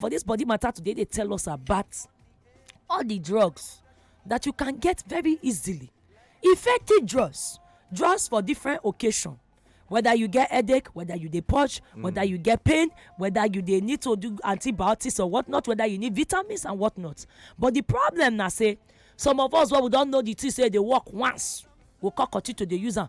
for this body matter today they tell us about all the drugs that you can get very easily effective drugs drugs for different occasion whether you get headache whether you dey purge mm. whether you get pain whether you dey need to do antibiotics or whatnot whether you need vitamins and whatnot but the problem na say some of us wey we don know the thing say e dey work once we come continue to dey use am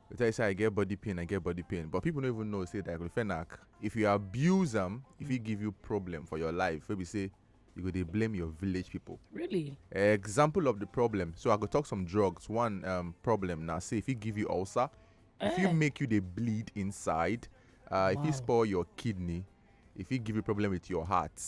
They tell you say I get body pain, I get body pain, but people don't even know say diclofenac. If you abuse them, if it give you problem for your life, maybe say you go they blame your village people. Really? Example of the problem. So I go talk some drugs. One um, problem now. Say if it give you ulcer, if you eh. make you they bleed inside, uh, if you spoil your kidney, if it give you problem with your heart,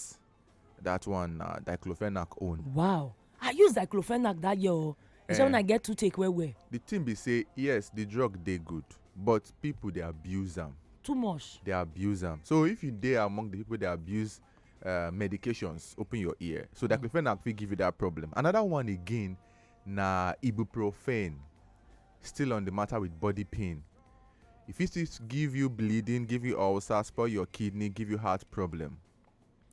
that one na uh, diclofenac own. wow i use diclofenac that year o e say when i get toothache well well. the thing be say yes the drug dey good but people dey abuse am. too much. dey abuse am so if you dey among the people dey abuse uh, medications open your ear so mm. diclofenac fit give you that problem another one again na ibuprofen still on the matter with body pain e fit still give you bleeding give you ulcer spoil your kidney give you heart problem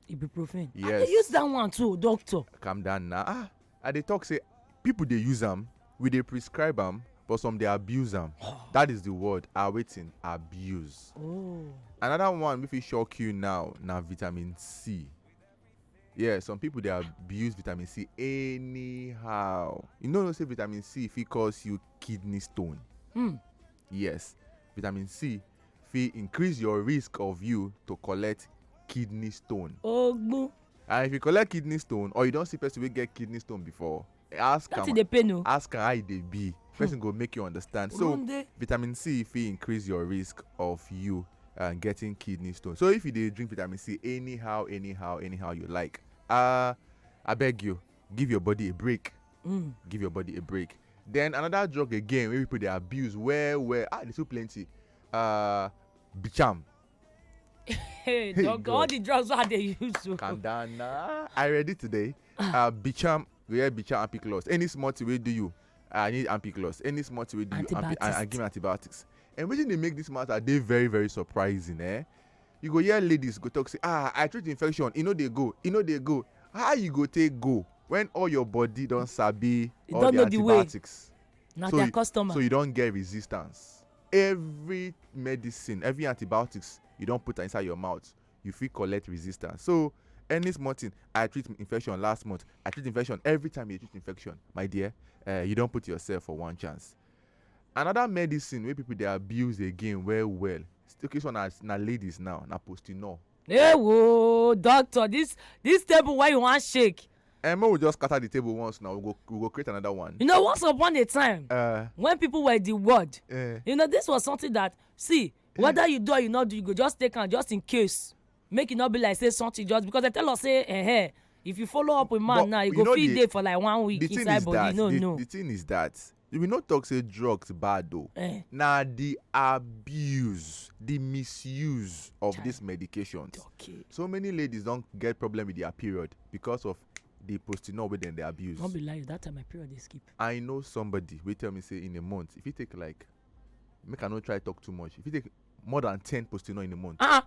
ibuprofen yes i dey use that one too doctor calm down na ah i dey talk say people dey use am we dey prescribe am but some dey abuse am that is the word ah wetin abuse oh another one wey fit shock you now na vitamin c yeah some people dey abuse vitamin c anyhow you no know say vitamin c fit cause you kidney stone hmm yes vitamin c fit increase your risk of you to collect kidney stone. ogbon. and if you collect kidney stone or you don see person wey get kidney stone before ask am oh. ask am how e dey be hmm. person go make you understand so vitamin c fit increase your risk of you uh, getting kidney stone so if you dey drink vitamin c anyhow anyhow anyhow you like uh, i beg you give your body a break mm. give your body a break then another drug again wey people dey abuse well well ah dey too plenty uh, bicham hey, dog, all the drugs wey i dey use so. calm down na i ready today uh, bicham go hear bicham and pick loss any small thing wey do you i need ampiclos any small thing wey do you and, and give me antibiotics and wetin dey make this matter dey very very surprising eh You go hear ladies go talk say ah I treat infection e no dey go e no dey go how you go take go when all your body don sabi e all don the know the way. antibiotics na so their you customer. so you don get resistance every medicine every antibiotics you don put am inside your mouth you fit collect resistance so any small thing I treat infection last month I treat infection every time you dey treat infection my dear eh you don put yourself for one chance Another medicine wey people dey abuse again well well, okay this one na na ladies now na postinor. Ewo doctor this this table wey you wan shake. Eh make we just scatter the table once now we go we go create another one. You know once upon a time uh, when people were the word, uh, you know this was something that see eh. whether you do or you not do you go just take am just in case make e no be like say something just because they tell us say eh, eh if you follow up with man but now you go fit dey for like one week inside body that, no the, no. The thing is that we no talk say drugs bad o Eh. na the abuse the misuse of these medications okay so many ladies don get problem with their period because of the postinol wey dem dey abuse no be lie that time my period dey skip i know somebody wey tell me say in a month if you take like make i no try talk too much if you take more than ten postinol in a month ah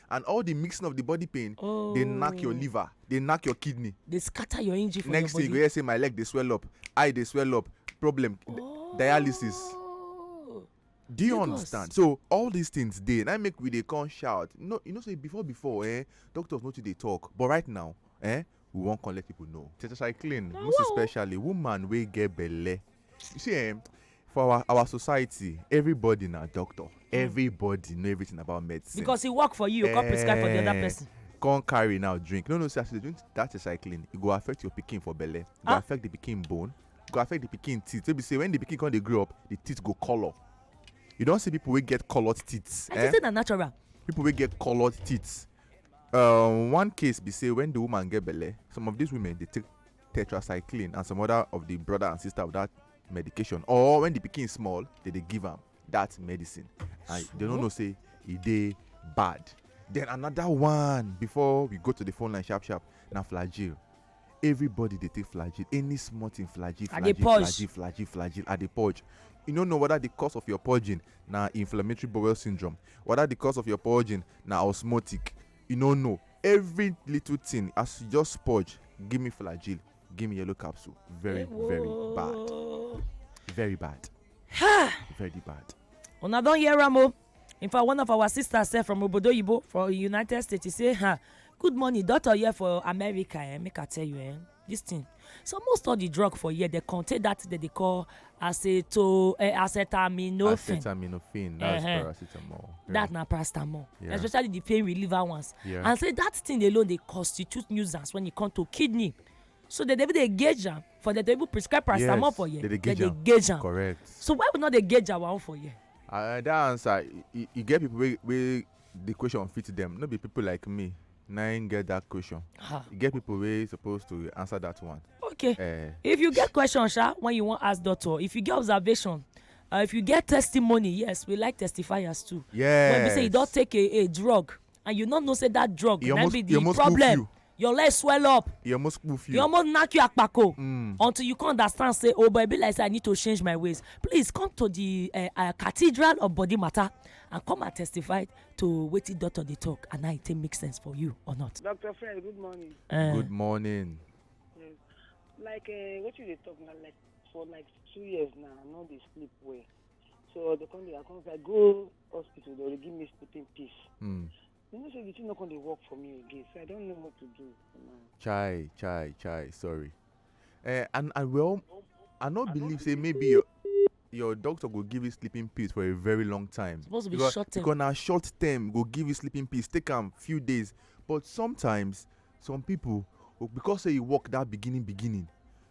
and all the mixing of the body pain oh. dey knack your oh. liver dey knack your kidney. dey scatter your engine for next your body. thing you go hear say my leg dey swell up eye dey swell up problem oh. dialysis. do you understand so all these things dey na make we dey come shout you know, you know say before before eh, doctors no too dey talk but right now eh, we wan come let people know tetracycline most especially woman wey get belle you see eh for our our society everybody na doctor hmm. everybody know everything about medicine. because e work for you you come prescribe for the other eh, person. come carry now drink no no see as you dey drink that recycling e go affect your pikin for belle e go ah. affect the pikin bone e go affect the pikin teeth wey be say when the pikin come dey grow up the teeth go colour you don see people wey get coloured teeth. i eh? think say na natural. people wey get coloured teeth um, one case be say when the woman get belle some of these women dey take tetracycline and some other of the brother and sister of that medication or when the pikin small they dey give am that medicine and they no know say e dey bad then another one before we go to the phone line sharp sharp na flagyl everybody dey take flagyl any small thing flagyl I dey flagyl purge. flagyl flagyl flagyl i dey purge you no know whether the cause of your purging na inflammatory bowel syndrome whether the cause of your purging na osmotic You no know every little thing as you just purge give me flagyl give me yellow capsule very very bad very bad very bad una don hear am o in fact one of our sisters sef from obodoyibo for united states say ha good morning doctor here for america eh make i tell you eh this thing so most of the drug for here they contain that thing that they call aceto uh, acetaminophen acetaminophen that's uh -huh. paracetamol yeah. that na paracetamol yeah. especially the pain reliever ones yeah. and say that thing alone dey constitute nuisance when e come to kidney so they dey even dey gauge am for the table prescribe paracetamol yes, for here they dey gauge am correct so why we no dey gauge our own for here. Uh, that answer you, you get people wey wey the question fit them no be people like me na im get that question ah. e get people wey suppose to answer that one okay uh, if you get question sha when you wan ask doctor if you get observation uh, if you get testimony yes we like testifiers too yes when we say you don take a a drug and you no know say that drug na be the problem your leg swell up e almost poof you e almost knack you akpako mm. until you come understand say oh but e be like say i need to change my ways please come to the uh, uh, cathedral of body matter and come and testify to wetin doctor dey talk and how e take make sense for you or not. doctor friend good morning. Uh, good morning. Yes. like uh, eh, wetin you dey talk na like for like two years now i no dey sleep well so the come dey i come say i go hospital they dey give me sleeping pill. Mm. you know say the thing no come dey work for me again so i don't know what to do. chai chai chai sorry. eh, and and well i no believe say maybe your your doctor go give you sleeping pills for a very long time. supposed to be because, short term because na short term go give you sleeping pills take am few days but sometimes some people oh, because say you work that beginning beginning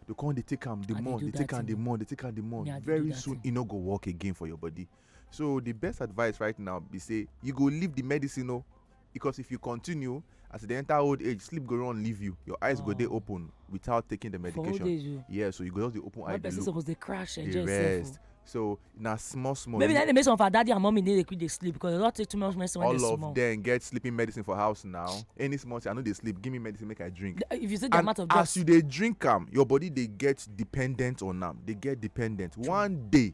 they come dey take am the more they take am the more they take am the more very soon e no go work again for your body. so the best advice right now be say you go leave the medicine o oh, because if you continue as you dey enter old age sleep go run leave you your eyes oh. go dey oh. open without taking the medication age, oh. yeah so you go just dey open One eye dey look suppose dey crash dey rest so na small small. maybe na dey make some of our daddy and mummy need dey quick dey sleep because they don take too much medicine when they small. all of them get sleeping medicine for house now any small thing i no dey sleep give me medicine make i drink. if you see the and amount of drugs. as you dey drink am your body dey get dependent on am dey get dependent one day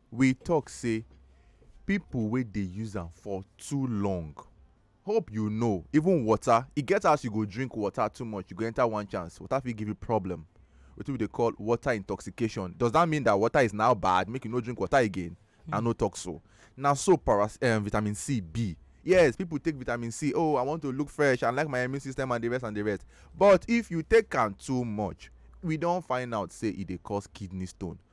we talk say people wey dey use am for too long hope you know even water e get as you go drink water too much you go enter one chance water fit give you problem wetin we dey call water intoxication does that mean that water is now bad make you no drink water again i no talk so na so paras um, vitamin c be yes people take vitamin c oh i want to look fresh i like my immune system and the rest and the rest but if you take am too much we don find out say e dey cause kidney stone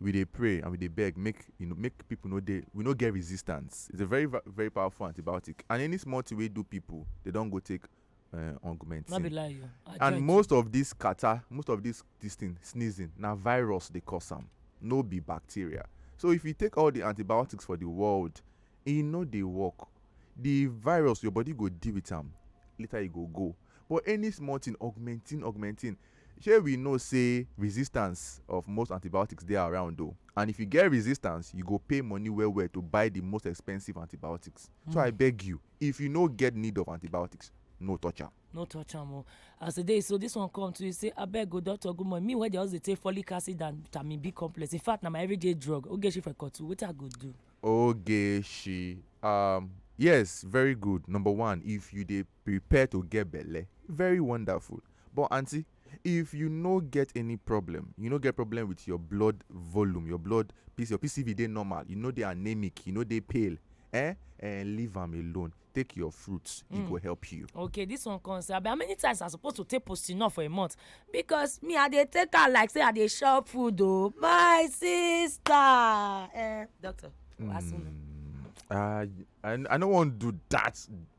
we dey pray and we dey beg make you know make people no dey we no get resistance it's a very va- very powerful antibiotic and any small thing wey do people they don go take uh, no be augmentin lie you i and join most of this catarrh most of this this thing sneezing na virus dey cause am no be bacteria so if you take all the antibiotics for the world e no dey work the virus your body go deal with am later e go go but any small thing augmentin augmentin Shey we know say resistance of most antibiotics dey around o and if you get resistance you go pay money well well to buy the most expensive antibiotics so I beg you if you no get need of antibiotics no touch am. no touch am o as e dey so this one come to you say abeg o doctor good morning me wey dey always dey take folic acid and vitamin b complex in fact na my everyday drug ogechi for kotu wetin i go do. ogechi um yes very good number one if you dey prepare to get belle very wonderful but aunty if you no get any problem you no get problem with your blood volume your blood piece your pcv dey normal you no dey anemic you no dey pale eh eh leave am alone take your fruits e go help you. okay this one come say abi how many times i suppose to take postinor for a month because me i dey take am like say i dey chop food o my sister eh doctor ask me. Mm, I, I I no wan do that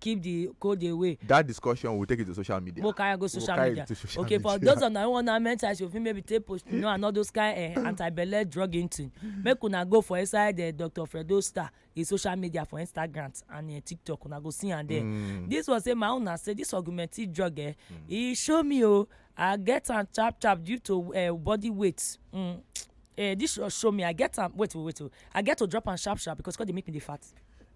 keep the code away. that discussion we take it to social media. mo carry go social we'll media social okay media. for those of na one na mental health you fit maybe take post you know and all those kind eh, anti-belle drug into make una go for inside eh, dr fredo star his social media for instagram and eh, tiktok una go see am there mm. this one say my own na say this augmented drug eh, mm. e show me o oh, i get am sharp sharp due to uh, body weight. Mm. Uh, this show, show me i get am wait wait wait i get to drop am sharp sharp because cause dey make me dey fat.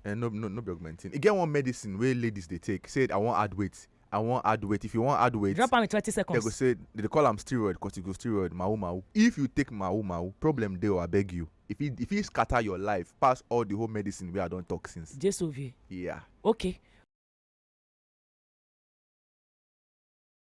Uh, no no no be augmentin e get one medicine wey ladies dey take say i wan add weight i wan add weight if you wan add weight. drop am in twenty seconds. they go say they dey call am steroid corticosteroid mawu mawu if you take mawu mawu problem dey o abeg you if e if e scatter your life pass all the whole medicine wey i don talk since. jesu vie. yeah. okay